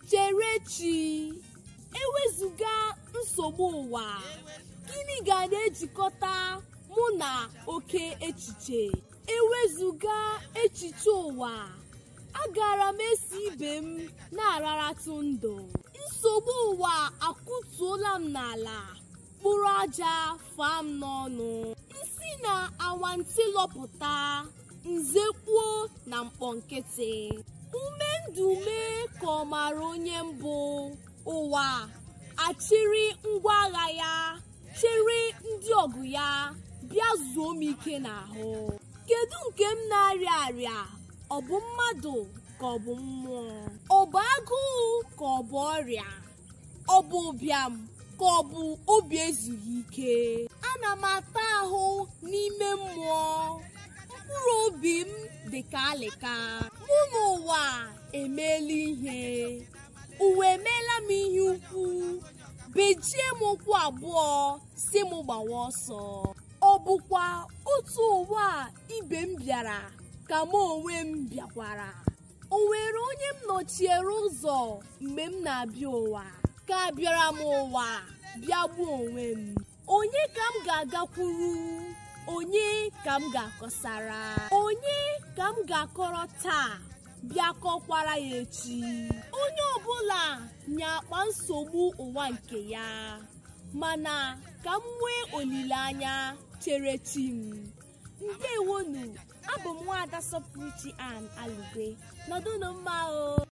Cherechi, ewezụga nsogbu ụwa, gịnị ga na-ejikọta mụ na oke echiche? Ewezụga echiche ụwa, agara m eso ibe m na-araratụ ndụ. Nsogbu ụwa akụtuola m n'ala. mkpụrụ aja faa m n'ọnụ m si na awantị lọpụta m zekpuo na mkpọ nkịtị ume ndụ mee ka ọ mara onye m bụ ụwa achịrị ngwa agha ya chịrị ndị ọgụ ya bịa zuo m ike n'ahụ kedu nke m na-arịa arịa ọ bụ mmadụ ka ọ bụ mmụọ ọ bụ agụụ ka ọ bụ ọrịa ọ bụ ụbịam ka ọ bụ obi ezughị ike ana m ata ahụ n'ime mmụọ mkpụrụ obi m dị ka alịka mụ na ụwa emeela ihe ụwa emeela m ihe ukwu bejie m ụkwụ abụọ sị m gbawa ọsọ ọ bụkwa otu ụwa a ibe m bịara ka mụ onwe m bịakwara o nwere onye m nọchiere ụzọ mgbe m na-abịa ụwa ka abịara m ụwa bịa gbuo onwe m onye ka m ga-agakwuru onye ka m ga-akọsara onye ka m ga-akọrọ taa bịa kọkwara ya echi onye ọbụla nya akpa nsogbu ụwa nke ya mana ka m nwee olileanya chere chi m ndewonụ abụ m nwaada sọpụrụchi ann alugwe nọdụnụ mma o